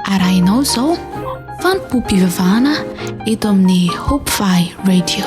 arahinao izao fanompoam-pivavahana eto amin'ny hopefy radio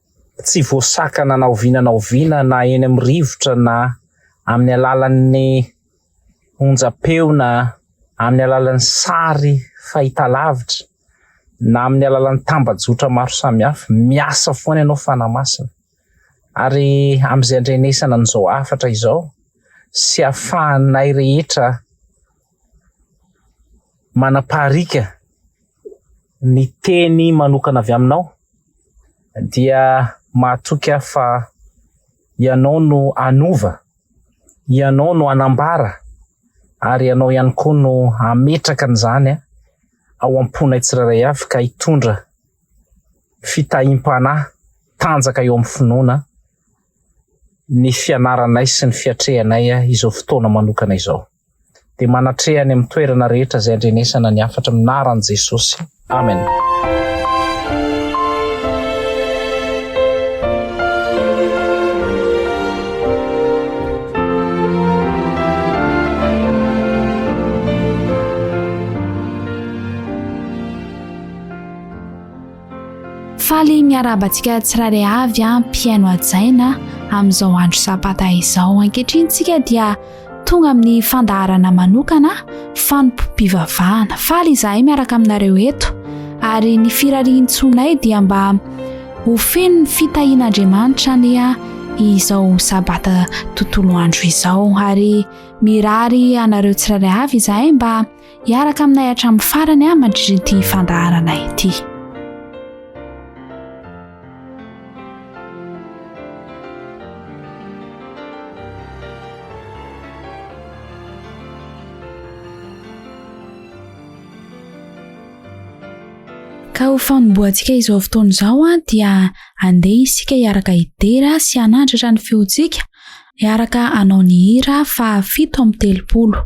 tsy voasakana na oviana na oviana na eny amin'ny rivotra na amin'ny alalan'ny onjam-peo na amin'ny alalan'ny sary fahitalavitra na amin'ny alalan'ny tambajotra maro samihafa, miasa foana ianao Fanahy Masina ary amin'izay andrenesana an'izao hafatra izao sy afahanay rehetra manapariaka ny teny manokana avy aminao dia mahatoky ahy fa ianao no hanova, ianao no hanambara ary ianao ihany koa no hametraka an'izany ao am-ponay tsirairay avy ka hitondra fitahiam-panahy tanjaka eo amin'ny finoana ny fianaranay sy ny fiatrehanay izao fotoana manokana izao. dia manatreha any amin'ny toerana rehetra izay andrenesana ny hafatra minaran'i Jesosy. Amen. faly miarabantsika tsirairay avy a mpihaino ajaina amin'izao andro sabata izao ankehitriny tsika dia Tonga amin'ny fandaharana manokana fanompoam-pivavahana. Faly izahay miaraka aminareo eto ary ny firarian-tsoanay dia mba ho feno ny fitahian'Andriamanitra ania izao sabata tontolo andro izao ary mirary anareo tsirairay avy izahay mba Hiaraka aminay hatramin'ny farany aho mandritra ity fandaharana ity. Ka ho fanombohantsika izao fotoana izao dia andeha isika hiaraka hidera sy hanandratra ny feontsika, hiaraka hanao ny hira fahafito amby telopolo.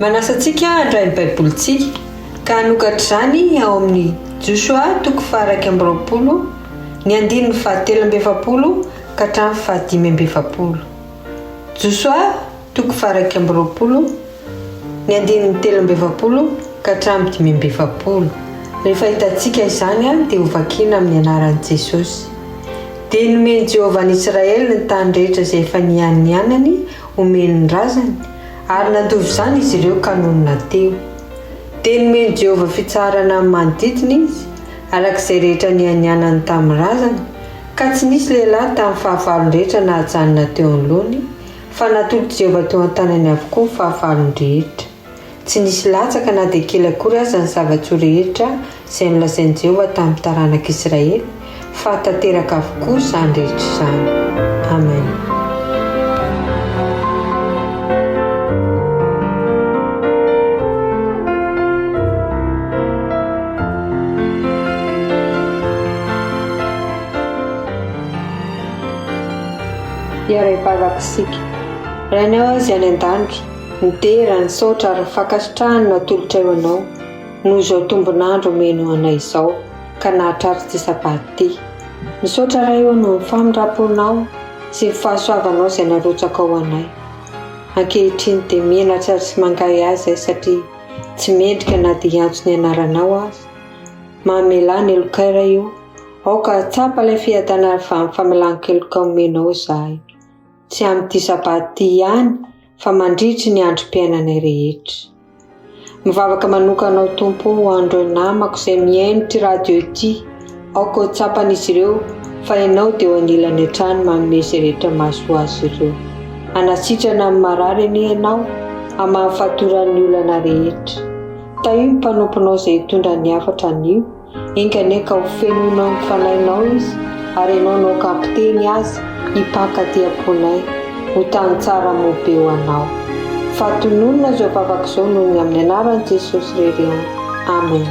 Manasa antsika handray ny Baibolintsika ka hanokatra izany ao amin'ny Josoa toko fahairaika amby roapolo ny andininy fahatelo amby efapolo ka hatramin'ny fahadimy amby efapolo. Josoa Toko faharaika amby roapolo, ny andininy telo amby efapolo ka hatramin'ny dimy amby efapolo. Rehefa hitantsika izany, dia hovakina amin'ny anaran'i Jesosy. Dia nomen'i Jehovah an'Israely ny tany rehetra izay efa nianianany homeny ny razany, ary nandova izany izy ireo ka nonina teo. Dia nomen'i Jehovah fitsaharana amin'ny manodidina izy, araka izay rehetra nianianany tamin'ny razany, ka tsy nisy lehilahy tamin'ny fahavalony rehetra nahajanona teo anoloany, Fa natolotr'i Jehovah teo an-tanany avokoa ny fahavalony rehetra. Tsy nisy latsaka na dia kely akory aza ny zava-tsoa rehetra izay nolazain'i Jehovah tamin'ny taranak'Israely, fa tanteraka avokoa izany rehetra izany. Amen. Iarahabavaka isika. Rainay hoy Izy any an-danitra, midera ny saotra ary ny fankasitrahany no atolotray ho Anao, noho izao tombon'andro omenao anay izao, ka nahatratra ity sabata ity. Misaotra Ray ô noho ny famindram-ponao sy ny fahasoavanao izay narotsakao ho anay. Ankehitriny dia menatra sy mangahy ahy izay satria tsy mendrika na dia hiantso ny Anaranao aza. Mamelà ny helokay Ray ô. Aoka hahatsapa ilay fiadanana avy amin'ny famelan-keloka omenao izahay, tsy amin'ity Sabata ity ihany fa mandritry ny androm-piainanay rehetra. Mivavaka manokana aho, Tompo, ho an'ireo namako izay mihaino ity radio ity, aoka ho tsapan'izy ireo fa Ianao dia eo anilany hatrany manome izay rehetra mahasoa azy ireo. Hanasitrana ny marary anie Ianao, hamaha ny fatoran'ny olana rehetra. Tahio ny mpanomponao izay hitondra ny hafatra anio. Enganie ka ho fenoinao ny fanahinao izy, ary ianao no ankampoteny azy hipaka aty am-ponay, ho tany tsara moa be ho anao. Fa tononina izao vavaka izao noho ny amin'ny anaran'i Jesosy re re o. Amen.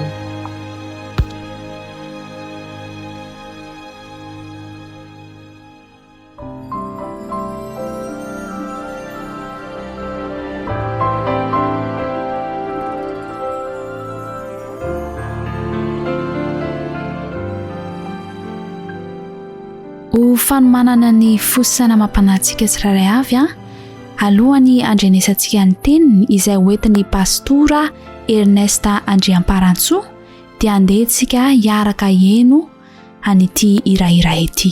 Ho fanomanana ny fo sy saina amam-panahintsika tsirairay avy an, alohan'ny andrenesantsika ny teniny izay hoentin'ny pastora Ernest Andriamparantsoa dia andeha isika hiaraka hihaino an'ity hira iray ity.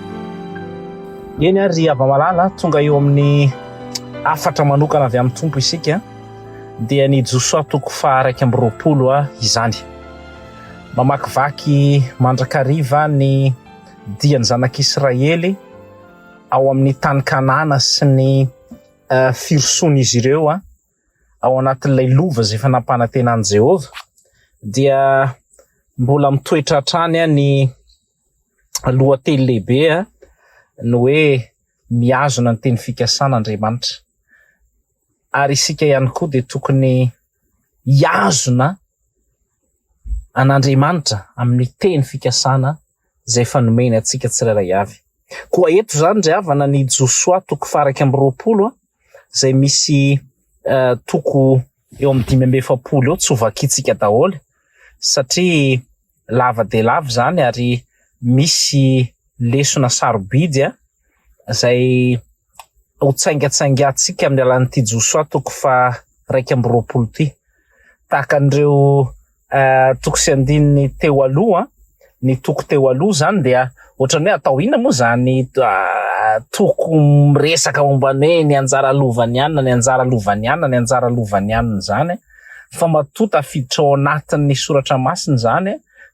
Eny ary ry hava-malala, tonga eo amin'ny hafatra manokana avy amin'ny Tompo isika, dia ny Josoa toko faha iraika amby roapolo izany. Mamakivaky mandrakariva ny dian'ny zanak'Israely ao amin'ny tany Kanana sy ny firosoan'izy ireo ao anatin'ilay lova izay efa nampanantenan'i Jehovah, dia mbola mitoetra hatrany ny... lohateny lehibe ny hoe mihazona ny teny fikasana Andriamanitra. Ary isika ihany koa dia tokony hihazona an'Andriamanitra amin'ny teny fikasana izay efa nomeny antsika tsirairay avy. Koa eto izany ry havana ny Josoa toko faha iraika amby roapolo izay misy toko eo amin'ny dimy amby efapolo eo tsy ho vakintsika daholo satria lava dia lava izany ary misy lesona sarobidy izay ho tsaingatsaingantsika amin'ny alalan'ity Josoa toko faha-iraika amby roapolo ity. Tahaka an'ireo toko sy andininy teo aloha, ny toko teo aloha izany dia ohatrany hoe atao inona moa izany toko miresaka momba ny hoe ny anjara lovan'ny anona, ny anjara lovan'ny anona, ny anjara lovan'ny anona izany. fa matoa tafiditra ao anatin'ny soratra masina izany,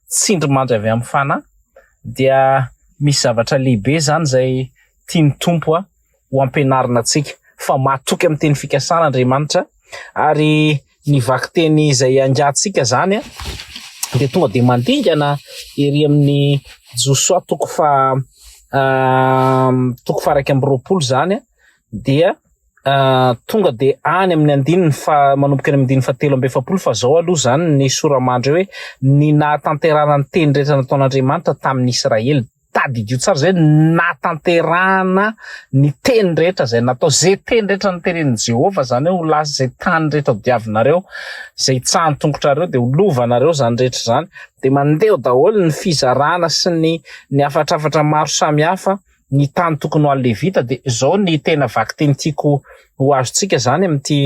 tsindrimandry avy amin'ny Fanahy, dia misy zavatra lehibe izany izay tian'ny Tompo ho ampianarina antsika, fa matoky amin'ny teny fikasana Andriamanitra, ary ny vakiteny izay iangatsika izany dia tonga dia mandingana ery amin'ny Josoa toko faha toko faha iraika amby roapolo izany dia tonga dia any amin'ny andininy fa manomboka eny amin'ny andininy fahatelo amby efapolo fa zao aloha izany ny sora-mandry hoe ny nahatanterahana ny teny rehetra nataon'Andriamanitra tamin'ny Israely tadidio tsara izay nahatanterahana ny teny rehetra izay natao izay teny rehetra niteren'i Jehovah izany hoe ho lasa izay tany rehetra hodiavinareo izay hitsahan'ny tongotrareo dia ho lovanareo izany rehetra izany dia mandeha daholo ny fizarana sy ny ny hafatrafatra maro samihafa ny tany tokony ho an'ny Levita dia izao ny tena vakiteny tiako ho azontsika izany amin'ity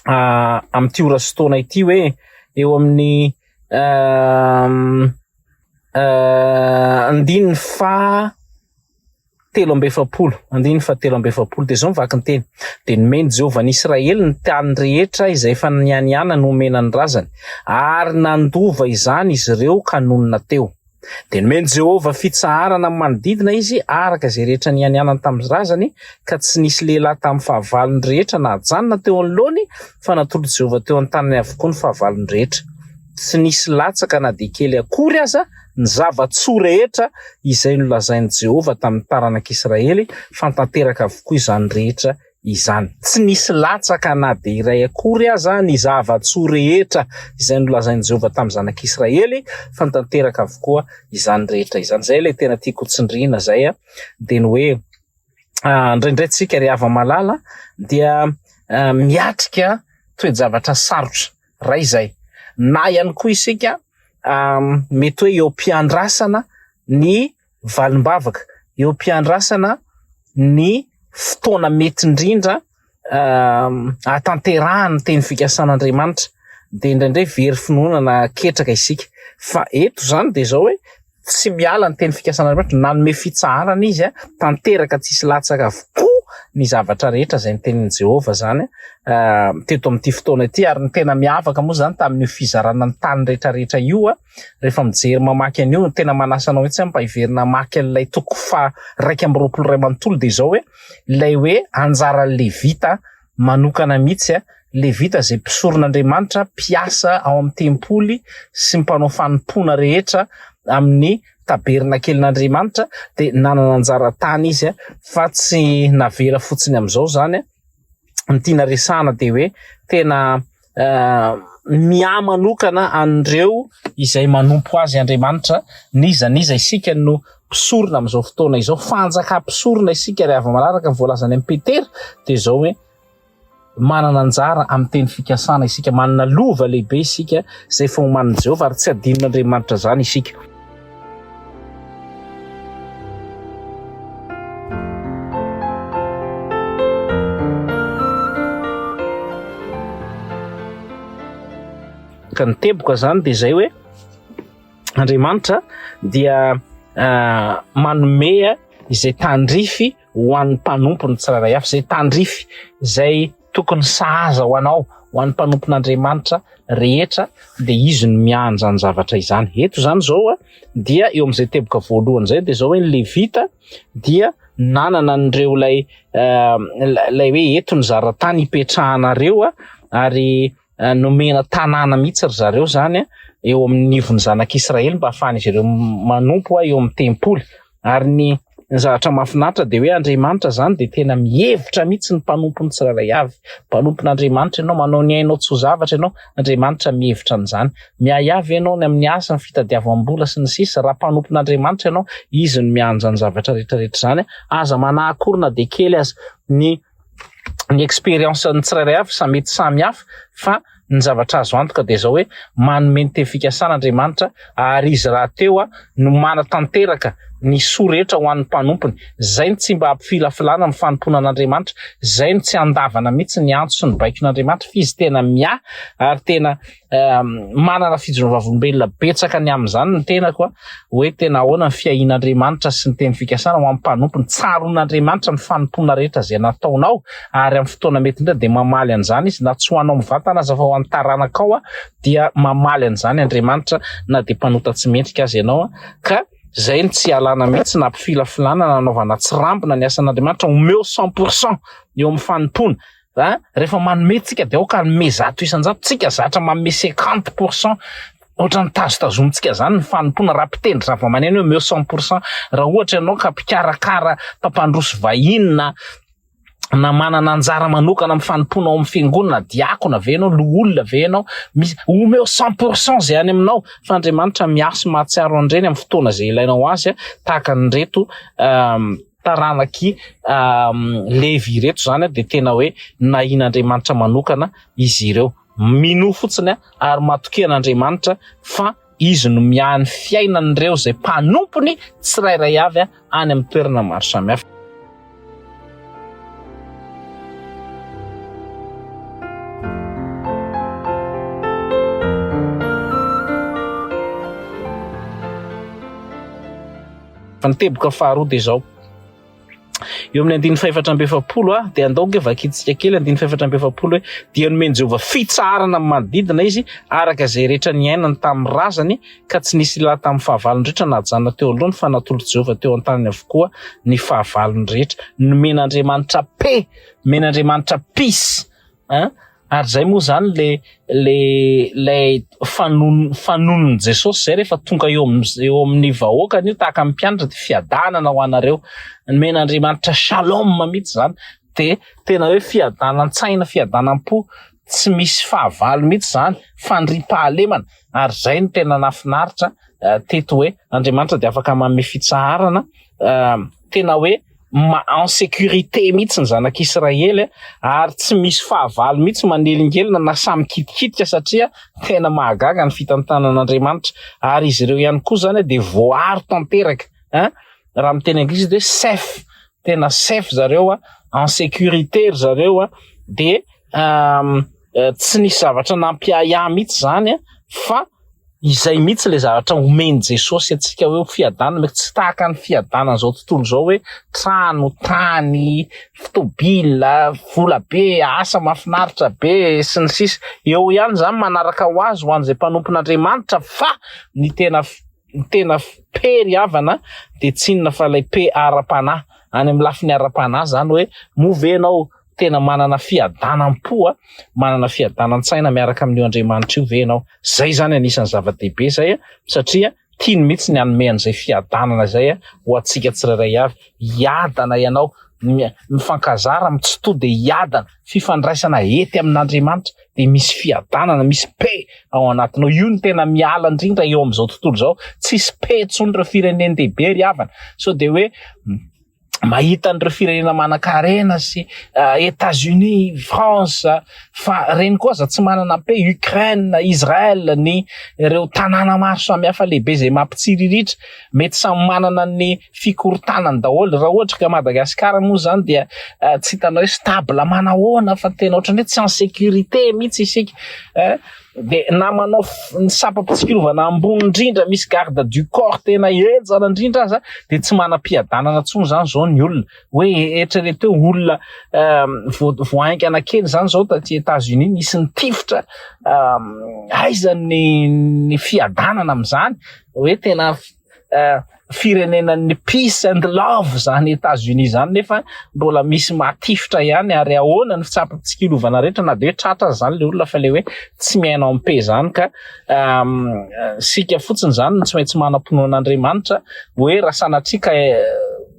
amin'ity ora sy taona ity hoe eo amin'ny andininy faha telo amby efapolo andininy faha telo amby efapolo dia izao ny vakinteny dia nomeny Jehovah an'i Israely ny tany rehetra izay efa nianianany homena ny razany ary nandova izany izy ireo ka nonina teo Dia nomen'i Jehovah fitsaharana ny manodidina izy araka izay rehetra nianianany tamin'ny razany, ka tsy nisy lehilahy tamin'ny fahavalony rehetra nahajanona teo anoloany, fa natolotr'i Jehovah teo an-tanany avokoa ny fahavalony rehetra. Tsy nisy latsaka na dia kely akory aza ny zava-tsoa rehetra izay nolazain'i Jehovah tamin'ny taranak'Israely, fa tanteraka avokoa izany rehetra izany. Tsy nisy latsaka na dia iray akory aza ny zava-tsoa rehetra izay nolazain'i Jehovah tamin'ny zanak'Israely, fa nitanteraka avokoa izany rehetra izany. Izay ilay tena tiako tsindriana izay, dia ny hoe indraindray isika ry hava-malala dia miatrika toe-javatra sarotra iray izay, na ihany koa isika mety hoe eo am-piandrasana ny valim-bavaka eo am-piandrasana ny fotoana mety indrindra ahatanterahan' ny teny fikasan' Andriamanitra, dia indraindray very finoana na ketraka isika. Fa eto izany dia izao hoe tsy miala ny teny fikasan' Andriamanitra, nanome fitsaharana izy tanteraka tsisy latsaka avokoa ny zavatra rehetra izay ny tenin' i Jehovah izany teto amin' ity fotoana ity. Ary ny tena miavaka moa izany tamin' io fizarana ny tany rehetrarehetra io, rehefa mijery mamaky an'io no tena manasa anao mihitsy mba hiverina hamaky an'ilay toko faha iraika amby roapolo iray manontolo dia izao hoe ilay hoe anjaran'ny Levita manokana mihitsy a Levita izay mpisoron'Andriamanitra mpiasa ao amin'ny tempoly sy mpanao fanompoana rehetra amin'ny tabernakelin'Andriamanitra dia nanana anjara tany izy a fa tsy navela fotsiny amin'izao izany a ny tiana resahana dia hoe tena miahy manokana an'ireo izay manompo azy Andriamanitra, n'iza n'iza isika no mpisorona amin'izao fotoana izao, fanjakam-pisorona isika ary avy manaraka ny voalazany amin'i Petera dia izao hoe manana anjara amin'ny teny fikasana isika, manana lova lehibe isika izay fahoman'i Jehovah ary tsy hadinon'Andriamanitra izany isika. ka ny teboka zany dia zay hoe andriamanitra dia ah, manomea izay tandrify ho an'ny mpanompony tsirairay avy izay tandrify izay Tokony sahaza ho anao, ho an'ny mpanompon'Andriamanitra rehetra dia izy no miandry izany zavatra izany. Eto izany izao dia eo amin'izay teboka voalohany izay dia izao hoe ny Levita dia nanana an'ireo ilay ilay hoe eto ny zaratany hipetrahanareo ary eh, nomena tanàna mihitsy ry zareo zany eh, eo amin'ny nivon'ny zanak'Israely mba hahafahan'izy ireo manompo eh, eo amin'ny tempoly ary ny zavatra mahafinaritra dia hoe Andriamanitra zany dia tena mihevitra mihitsy ny mpanompony tsirairay avy mpanompon'Andriamanitra ianao manao ny ainao tsy ho zavatra ianao Andriamanitra mihevitra an'izany miahiavy ianao ny amin'ny asa ny fitadiavam-bola sy ny sisa raha mpanompon'Andriamanitra ianao izy no mianja ny zavatra rehetrarehetra izany aza manahakorina dia kely aza ny ny expérience ny tsirairay avy sa mety samy hafa fa ny zavatra azo antoka dia izao hoe manome ny teny fikasana Andriamanitra ary izy rahateo aho no manatanteraka ny soa rehetra ho an'ny mpanompony izay no tsy mba hampifilafilana amin'ny fanompoana an'Andriamanitra izay no tsy andavana mihitsy ny antso sy ny baikon'Andriamanitra fa izy tena miahy ary tena manana fijoroana vavolombelona betsaka ny amin'izany ny tenako hoe tena ahoana ny fiahian'Andriamanitra sy ny teny fikasana ho amin'ny mpanompo ny tsaron'Andriamanitra ny fanompoana rehetra izay nataonao ary amin'ny fotoana mety indrindra dia mamaly an'izany izy na tsy ho anao mivantana aza fa ho an'ny taranakao dia mamaly an'izany Andriamanitra na dia mpanota tsy mendrika aza ianao ka izay ny tsy alana mihitsy na mpifilafilana nanaovana tsirambina ny asan'Andriamanitra omeo 100% eo amin'ny fanompoana an! rehefa manome tsika dia aoka hanome zato isan-jato tsika zatra manome cinquante pour cent ohatran'ny tazotazomintsika izany ny fanompoana raha mpitendry zavamaneno omeo cent pour cent raha ohatra ianao ka mpikarakara mpampandroso vahiny na na manana anjara manokana amin'ny fanompoana ao amin'ny fiangonana diakona ve ianao loholona ve ianao misy omeo cent pour cent izay any aminao fa andriamanitra miasy mahatsiaro an'ireny amin'ny fotoana izay ilainao azy tahaka an'ireto taranak'i Levy ireto izany dia tena hoe nahian'Andriamanitra manokana izy ireo. Minoa fotsiny ary matokia an'Andriamanitra fa izy no miahy ny fiainan'ireo izay mpanompony tsirairay avy any amin'ny toerana maro samihafa. Fa ny teboka faharoa dia izao. Eo amin'ny andininy fahefatra amby efapolo ah, dia andao nge vakintsika kely andininy fahefatra amby efapolo hoe dia nomen'i Jehovah fitsaharana amin'ny manodidina izy araka izay rehetra niainany tamin'ny razany ka tsy nisy lahy tamin'ny fahavalony rehetra nahajanona teo alohany fa natolotry Jehovah teo an-taniny avokoa ny fahavalony rehetra. Nomen'Andriamanitra pe, nomen'Andriamanitra peace. An! ary zay moa zany le le lay fanon fanonon'i Jesosy zay rehefa tonga eo am eo amin'ny vahoakany io tahaka ny mpianatra de fiadanana ho anareo nomen'Andriamanitra shalom mitsy zany de tena hoe fiadanan-tsaina fiadanan-po tsy misy fahavalo mitsy zany fandriam-pahalemana ary zay no tena nafinaritra teto hoe Andriamanitra de afaka manome fitsaharana tena hoe en sécurité mihitsy ny zanak'Israely ary tsy misy fahavalo mihitsy manelingelina na sahy mikitikitika satria tena mahagaga ny fitantanan'Andriamanitra ary izy ireo ihany koa izany dia voaaro tanteraka hein raha miteny anglisy dia safe tena safe zareo en sécurité ry zareo dia euh, euh, tsy nisy zavatra nampiahiahy mihitsy izany fa Izay mihitsy ilay zavatra omen'i Jesosy antsika hoe ho fiadanana, mety tsy tahaka ny fiadanan'izao tontolo izao hoe trano, tany, tôbila, vola be, asa mahafinaritra be sy ny sisa Eo ihany izany manaraka ho azy ho an'izay mpanompon'Andriamanitra fa ny tena ny tena peri havana dia tsy inona fa ilay pe ara-panahy, any amin'ny lafiny ara-panahy izany hoe moa ve ianao tena manana fiadanam-po a, manana fiadanan-tsaina miaraka amin'io Andriamanitra io ve ianao? Izay izany anisan'ny zava-dehibe izay a, satria tiany mihitsy ny hanome an'izay fiadanana izay ho antsika tsirairay avy. Hiadana ianao, mifankazara amin'ny tsy to dia hiadana, fifandraisana hety amin'Andriamanitra dia misy fiadanana, misy paix ao anatinao. Io no tena miala indrindra eo amin'izao tontolo izao, tsisy paix intsony ireo firenendehibe ry havana, sao dia hoe, mahita an'ireo firenena manan-karena sy uh, États-Unis, France, fa reny koa aza tsy manana mpe Ukraine, Israël, ny ireo tanàna maro samihafa lehibe izay mampitsiriritra, mety samy manana ny fikorontanany daholo. Raha ohatra ka Madagasikara moa izany dia uh, tsy hitanao hoe stable manahoana fa tena ohatran'ny hoe tsy en sécurité mihitsy isika. Eh? dia na manao ny sampam-pitsikilovana ambony indrindra misy garde du corps tena henjana indrindra aza dia tsy manam-piadanana intsony izany izao ny olona hoe eritrereto hoe olona euh, voahaingana kely izany izao taty États-Unis nisy ny tifitra euh, aiza ny ny fiadanana amin'izany hoe tena eh, firenenan'ny peace and love zany Etats-Unis zany nefa mbola misy matifitra ihany ary ahoana ny fitsapantsikilovana rehetra na de hoe tratra zany le olona fa le hoe tsy miaina en paix zany ka ehm, sika fotsiny zany no tsy maintsy manam-pinoana Andriamanitra hoe raha sanatria ka eh,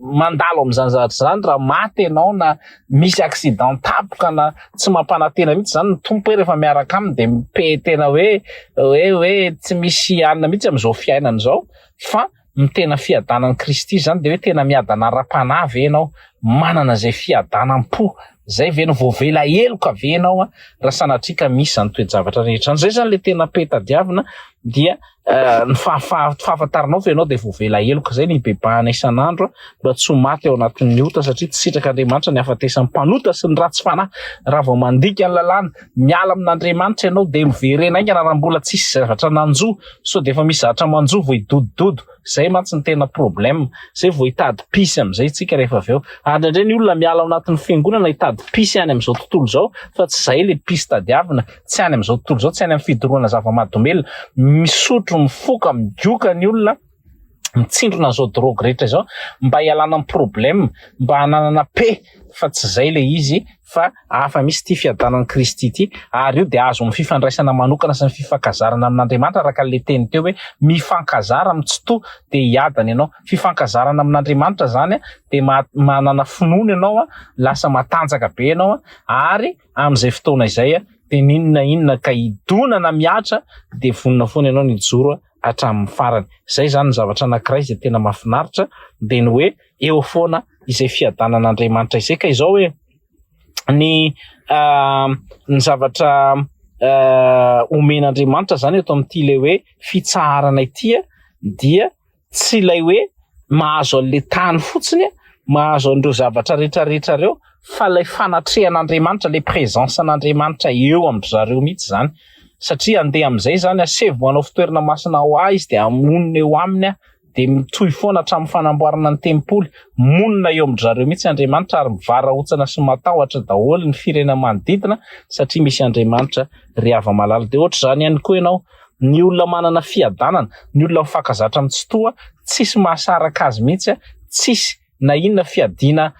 mandalo amin'izany zavatra izany raha maty ianao na misy accident tapoka na tsy mampanantena mihitsy zany ny tompo hoe rehefa miaraka aminy de mipe tena hoe hoe hoe tsy misy alina mihitsy amin'izao fiainana izao fa ny tena fiadanan'i Kristy izany de hoe tena miadana ara-panahy ve ianao manana izay fiadanam-po zay ve no voavela heloka ve ianao raha sanatria ka misy izany toe-javatra rehetra izany zay izany le tena pe tadiavina dia Eh, ny fahafantaranao fa ianao dia voavela heloka izay ny bebahana isan'andro mba tsy ho maty ao anatin'ny ota satria tsy sitrak'Andriamanitra ny hafatesan'ny mpanota sy ny ratsy fanahy raha vao mandika ny lalàna miala amin'Andriamanitra ianao dia miverena aingana raha mbola tsy hisy zavatra nanjo sao dia efa misy zavatra manjo vao hidodododo izay mantsy ny tena problème izay vao hitady pisy amin'izay tsika rehefa avy eo ary indray ny olona miala ao anatin'ny fiangonana hitady pisy any amin'izao tontolo izao fa tsy izay le pisy tadiavina tsy any amin'izao tontolo izao, tsy any amin'ny fidorohana zava-mahadomelina. Misotro, mifoka, migoka ny olona, mitsindrona an'izao drogue rehetra izao mba hialana amin'ny problème, mba hananana paix fa tsy izay ilay izy fa hafa mihitsy ity fiadanan'i Kristy ity ary io dia azo amin'ny fifandraisana manokana sy ny fifankazarana amin'Andriamanitra araka an'ilay teny teo hoe mifankazara amin'ny tsitoha dia hiadana ianao. Fifankazarana amin'Andriamanitra izany dia manana finoana ianao, lasa matanjaka be ianao ary amin'izay fotoana izay dia n'inona inona ka hidona na mihatra dia vonona foana ianao ny hijoro hatramin'ny farany. Izay izany ny zavatra anankiray izay tena mahafinaritra dia ny hoe eo foana izay fiadanan'Andriamanitra izay ka izao hoe ny ny zavatra omen'Andriamanitra izany eto amin'ity ilay hoe fitsaharana ity dia Tsy ilay hoe mahazo an'ilay tany fotsiny, mahazo an'ireo zavatra rehetra rehetra ireo, fa ilay fanatrehan'Andriamanitra, ilay présence n'Andriamanitra eo amin-dry zareo mihitsy izany. Satria handeha amin'izay izany, asevo manao fitoerana masina ho Ahy Izy, dia hamonina eo Aminy Aho, dia mitohy foana hatramin'ny fanamboarana ny tempoly. Monina eo amin-dry zareo mihitsy Andriamanitra, ary mivarahontsana sy matahotra daholo ny firenena manodidina, satria misy Andriamanitra. Ry hava-malala, dia hoatr'izany ihany koa ianao. ny olona manana fiadanana, ny olona mifankazatra amin'ny Tsitoha, tsisy mahasaraka azy mihitsy, tsisy na inona fiadiana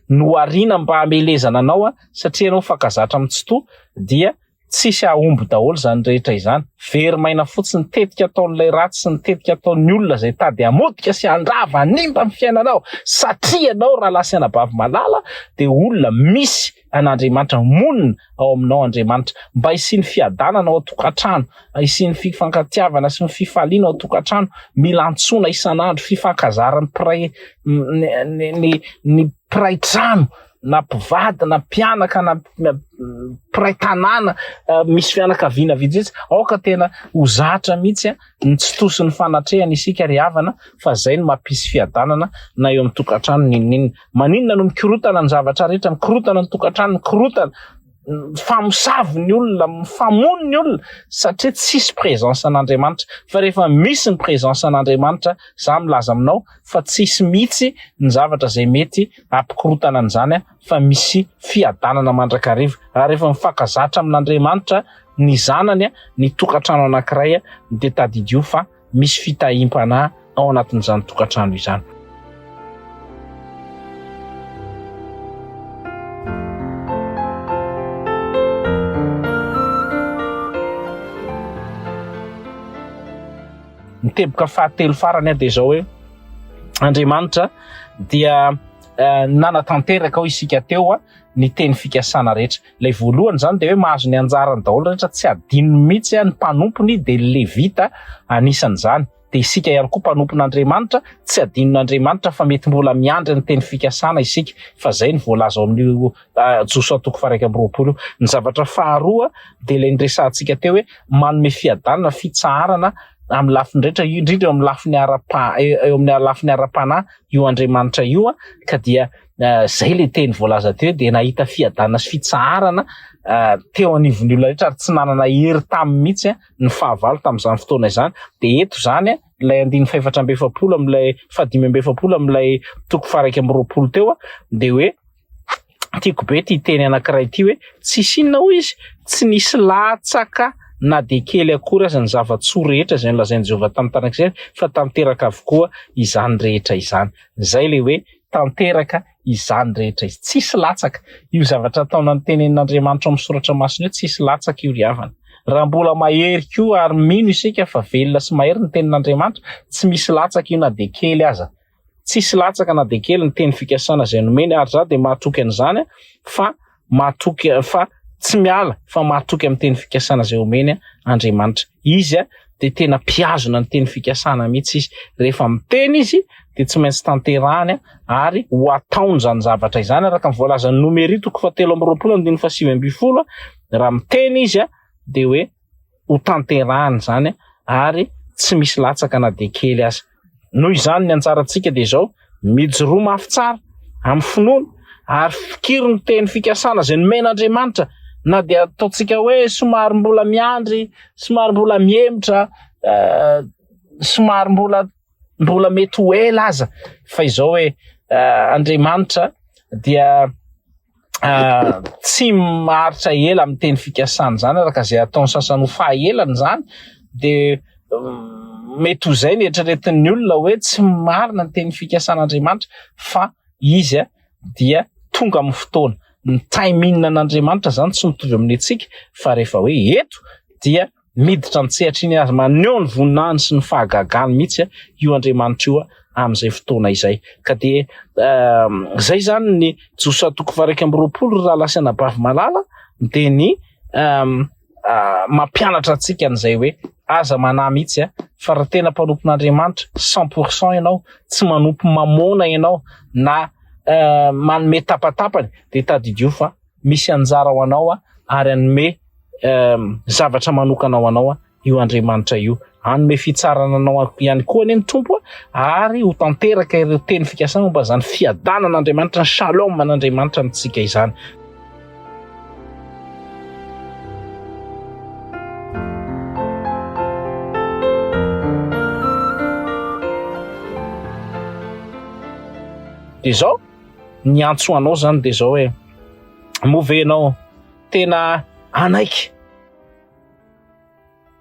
nohariana mba hamelezana anao satria ianao mifankazatra amin'ny Tsitoha dia tsisy hahomby daholo izany rehetra izany, very maina fotsiny, tetika ataon'ilay ratsy sy ny tetika ataon'ny olona izay tady hamotika sy handrava hanimba ny fiainanao satria ianao rahalahasy anabavy malala dia olona misy an'Andriamanitra, monina ao aminao Andriamanitra, mba hisian'ny fiadanana ao an-tokantrano, hisian'ny fifankatiavana sy ny fifaliana ao an-tokantrano, mila antsoina isan'andro, fifankazaran'ny mpiray ny ny ny mpiray trano na mpivady na mpianaka na mpiray tanàna misy fianakaviana vitsivitsy aoka tena ho zatra mihitsy ny tsy tosin'ny fanatrehana isika ry havana fa izay no mampisy fiadanana na eo amin'ny tokantrano n'inon'inona Maninona no mikorotana ny zavatra rehetra, mikorotana ny tokantrano, mikorotana, mifamosavy ny olona, mifamono ny olona satria tsisy présence an'Andriamanitra. Fa rehefa misy ny présence an'Andriamanitra, za milaza aminao fa tsisy mihitsy ny zavatra izay mety hampikorotana an'izany fa misy fiadanana mandrakariva. Ary rehefa mifankazatra amin'Andriamanitra ny zanany, ny tokantrano anankiray dia tadidio fa. misy fitahiam-panahy ao anatin'izany tokantrano izany. Ny teboka fahatelo farany dia izao hoe Andriamanitra dia eh, nanatanteraka ho isika teo ny teny fikasana rehetra. Ilay voalohany izany dia hoe mahazo ny anjarany daholo rehetra, tsy adinony mihitsy ny mpanompony dia ny Levita anisan'izany. Dia isika ihany koa mpanompon'Andriamanitra, tsy adinon'Andriamanitra fa mety mbola miandry ny teny fikasana isika, fa izay no voalaza ao amin'io Josoa toko faha-iraika amby roapolo io. Ny zavatra faharoa dia ilay niresahantsika teo hoe manome fiadanana, fitsaharana amin'ny lafiny rehetra, indrindra eo amin'ny lafiny ara-panahy io Andriamanitra io, ka dia eh, zay le teny voalaza teo dia nahita fiadana sy fitsaharana eh, teo anivon'ny olona rehetra ary tsy nanana hery tamin'ny mihitsy eh, ny fahavalo tamin'izany fotoana izany dia eto izany ilay andiny fahefatra amby efapolo amin'ilay fahadimy amby efapolo amin'ilay toko faraika amby roapolo teo a dia hoe tiako be ty teny anankiray ty hoe tsy sinina hoy izy tsy nisy latsaka na dia kely akory aza ny zava-tsoa rehetra izay nolazain'i Jehovah tamin'ny taranak'Israely fa tanteraka avokoa izany rehetra izany. Izay le hoe tanteraka izany rehetra izany. Tsisy latsaka. Io zavatra ataona notenenin'Andriamanitra ao amin'ny Soratra Masina io, tsisy latsaka io ry havana. Raha mbola mahery koa ary mino isika fa velona sy mahery ny tenin'Andriamanitra, tsy misy latsaka io na dia kely aza. Tsisy latsaka na dia kely ny teny fikasana izay nomeny ary izaho dia mahatoky an'izany fa mahatoky fa tsy miala fa mahatoky amin'ny teny fikasana izay omeny Andriamanitra. Izy dia tena mpihazona ny teny fikasana mihitsy izy. Rehefa miteny izy dia tsy maintsy tanterahany ary ho ataony izany zavatra izany araka ny voalazan'i Nomery toko fahatelo amby roapolo andininy fahasivy ambin'ny folo raha miteny izy dia hoe ho tanterahina izany ary tsy misy latsaka na dia kely aza. Noho izany, ny anjarantsika dia izao, mijoroa mafy tsara, amin'ny finoana, ary fikiro ny teny fikasana izay nomen'Andriamanitra, na dia ataontsika hoe somary mbola miandry, somary mbola mihemotra, somary mbola. mbola mety ho ela aza fa izao hoe uh, Andriamanitra dia uh, tsy maharitra ela amin'ny teny fikasany zany araka izay ataony sasany ho fahaelany zany de um, mety ho zay ny eritreretin'ny olona hoe tsy marina ny teny fikasan'Andriamanitra fa izy a dia tonga amin'ny fotoana ny timing an'Andriamanitra zany tsy mitovy amin'ny antsika fa rehefa hoe eto dia Miditra an-tsehatra iny ary maneho ny voninahiny sy ny fahagagany mihitsy io Andriamanitra io amin'izay fotoana izay. Ka dia izay izany ny Josoa toko faha-iraika amby roapolo, ry rahalahy sy anabavy malala, dia ny mampianatra antsika an'izay hoe aza manahy mihitsy fa raha tena mpanompon'Andriamanitra cent pour cent ianao, tsy manompo mamôna ianao na manome tapatapany dia tadidio fa misy anjara ho anao ary hanome zavatra manokana ho anao io Andriamanitra io. Hanome fitsarana anao ihany koa anie ny Tompo ary ho tanteraka ireo teny fikasana momba izany fiadanana Andriamanitra, ny shalom an'Andriamanitra amintsika izany. Dia izao, niantso anao zany de zao e moa ve ianao tena anaiky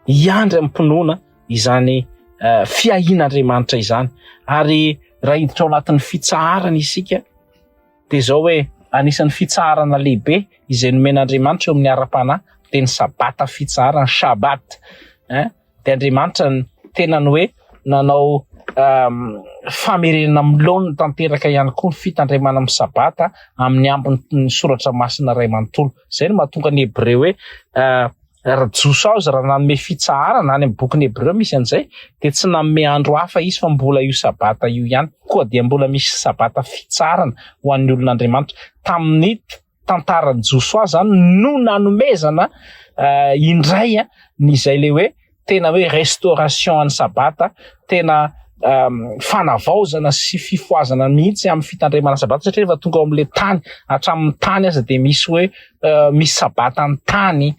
hiandry amin'ny mpinoana izany eh, fiahian'Andriamanitra izany ary raha hiditra ao anatin'ny fitsaharana isika de zao hoe anisan'ny fitsaharana lehibe izay nomen'Andriamanitra eo amin'ny ara-panahy de ny sabata fitsaharana shabat eh? dia Andriamanitra ny tenany hoe nanao um, famerenana amin'ny laoniny tanteraka ihany koa ny fitandremana amin'ny sabata amin'ny ambin'ny soratra masina iray manontolo. Izay no mahatonga ny Hebreo hoe uh, raha jiosy aho izy raha nanome fitsaharana any amin'ny bokin'ny hebreo misy an'izay dia tsy nanome andro hafa izy fa mbola io sabata io ihany koa dia mbola misy sabata fitsaharana ho an'ny olon'andriamanitra tamin'ny tantaran'i Josoa zany no nanomezana indray ny zay le hoe tena hoe restauration an'ny sabata tena fanavaozana sy fifoazana mihitsy amin'ny fitandremana sabata satria rehefa tonga ao amin'le tany hatramin'ny tany aza dia misy hoe misy sabata ny tany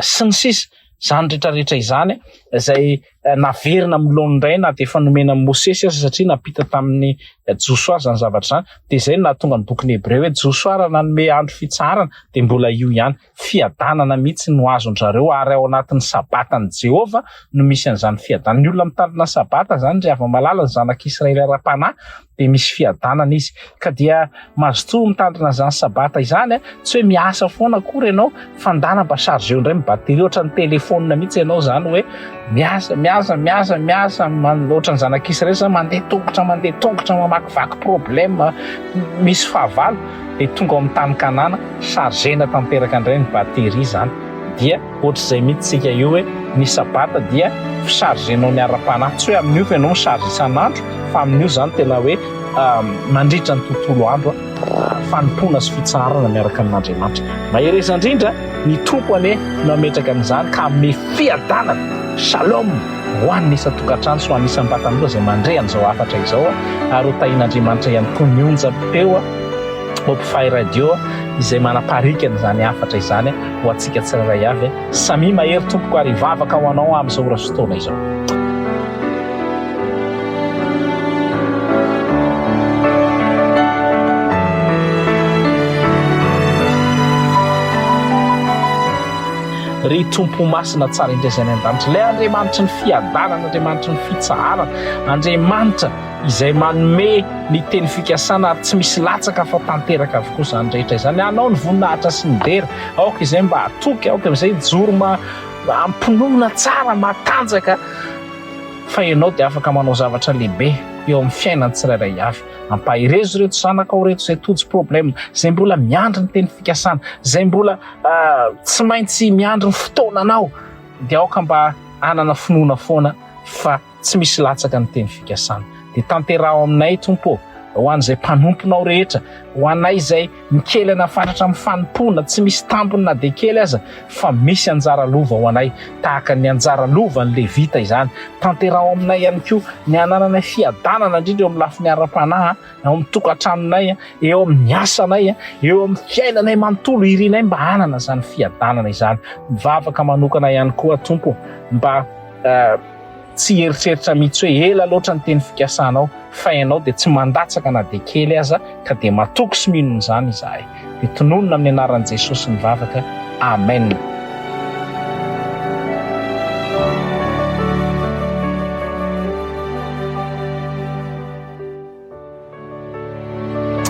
sy ny sisa izany rehetrarehetra izany izay eh, naverina amin'ny laoniny indray na dia efa nomena an'i Mosesy aza satria nampita tamin'ny eh, Josoa izany zavatra izany. Dia izay no nahatonga ny bokin'ny Hebreo hoe Josoa raha nanome andro fitsaharana dia mbola io ihany. Fiadanana mihitsy no azon-dry zareo ary ao anatin'ny sabatan'i Jehovah no misy an'izany fiadanana. Ny olona mitandrina sabata izany ry hava-malala, ny zanak'Israely ara-panahy, dia misy fiadanana izy ka dia mazotoa mitandrina izany sabata izany a tsy hoe miasa foana akory ianao fa ndana mba chargeo indray mibatery ohatra ny telefonina mihitsy ianao izany hoe miasa miasa miasa miasa ohatra ny zanak'isy rehetra izany mandeha tongotra mandeha tongotra mamakivaky problème misy fahavalo dia tonga ao amin'ny tany kanana chargena tanteraka indray ny batery izany dia Ohatr'izay mihitsy tsika io hoe ny sabata dia fi chargenao ny ara-panahy, tsy hoe amin'io fa ianao mi charge isan'andro fa amin'io zany tena hoe mandritra ny tontolo andro fanompoana sy fitsaharana miaraka amin'Andriamanitra. Mahereza indrindra, ny Tompo anie no hametraka an'izany ka hanome fiadanana, shalom, ho an'ny isan-tokantrano sy ho an'ny isam-batan'olona izay mandre an'izao hafatra izao ary ho tahian'Andriamanitra ihany koa ny onjam-peo ao Hope Fire Radio izay manaparika an'izany hafatra izany. ho antsika tsirairay avy. Samia mahery tompoko ary hivavaka ho anao aho amin'izao ora sy fotoana izao. ry tompo masina tsara indray izay any an-danitra ilay andriamanitry ny fiadanana andriamanitry ny fitsaharana andriamanitra izay manome ny teny fikasana ary tsy misy latsaka fa tanteraka avokoa izany rehetra izany. Hanao ny voninahitra sy ny dera aoka izay mba hatoky, aoka izay hijoro ma ampinoana tsara, matanjaka fa ianao dia afaka manao zavatra lehibe eo amin'ny fiainan'ny tsirairay avy. Ampaherezo ireto zanakao ireto izay tojo problème, izay mbola miandry ny teny fikasana, izay mbola ah, tsy maintsy miandry ny fotoana anao, dia aoka mba hanana finoana foana fa Tsy misy latsaka ny teny fikasana. Dia tanteraho aminay, Tompo ô, ho an'izay mpanomponao rehetra, ho anay izay mikely anafanatra amin'ny fanompoana, tsy misy tambiny na dia kely aza, fa misy anjara lova ho anay, tahaka ny anjara lovan'ny Levita izany. Tanteraho aminay ihany koa ny hanananay fiadanana, indrindra eo amin'ny lafiny ara-panahy, ao amin'ny tokantranonay, eo amin'ny asanay, eo amin'ny fiainanay manontolo. Irinay mba hanana izany fiadanana izany. Mivavaka manokana ihany koa aho, Tompo, mba. Tsy hieritreritra mihitsy hoe ela loatra ny teny fikasanao, fa ianao dia tsy mandatsaka na dia kely aza, ka dia matoky sy mino an'izany izahay. Dia tononina amin'ny anaran'i Jesosy ny vavaka. Amen.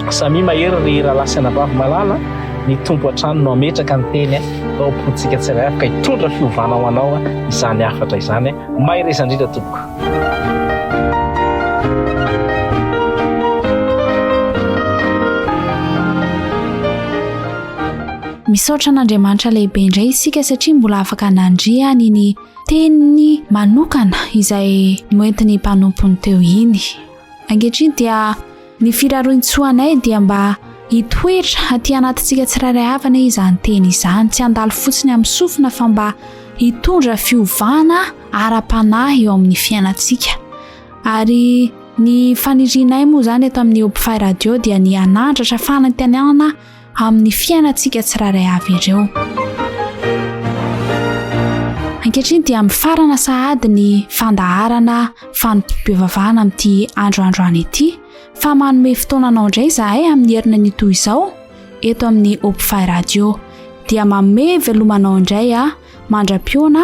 Samia mahery ry rahalahy sy anabavy malala, ny Tompo hatrany no hametraka ny teny mba ho pointsika tsirairay afaka hitondra fiovana ho anao izany hafatra izany. Mahereza indrindra tompoko. Misaotra an'Andriamanitra lehibe indray isika satria mbola afaka nandria ny ny teniny manokana izay noentin'ny mpanompony teo iny. Ankehitriny dia ny firarointsoanay dia mba hitoetra aty anatintsika tsirairay avy anie izany teny izany, tsy handalo fotsiny amin'ny sofina fa mba hitondra fiovana ara-panahy eo amin'ny fiainantsika. Ary ny fanirianay moa izany eto amin'ny Hope Fi Radio dia ny hanandratra fanantenana amin'ny fiainantsika tsirairay avy ireo. Ankehitriny dia mifarana sahady ny fandaharana fanompoam-pivavahana amin'ity andro androany ity fa manome fotoana anao indray izahay amin'ny herina ny toy izao eto amin'ny Opfy Radio dia manome velomanao indray a mandra-piona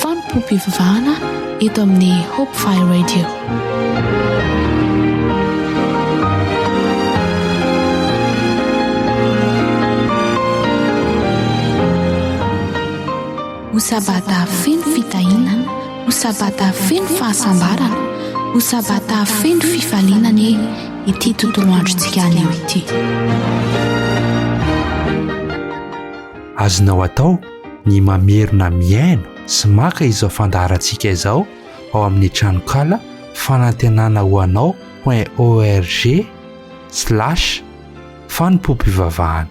Fanompoam-pivavahana eto amin'ny Hope Fire Radio. Ho sabata feno fitahiana, ho sabata feno fahasambarana, ho sabata feno fifaliana anie ity tontolo androntsika anio ity. Azonao atao ny mamerina mihaino sy maka izao fandaharantsika izao ao amin'ny tranonkala fanantenana ho anao point org slash fanompoam-pivavahana.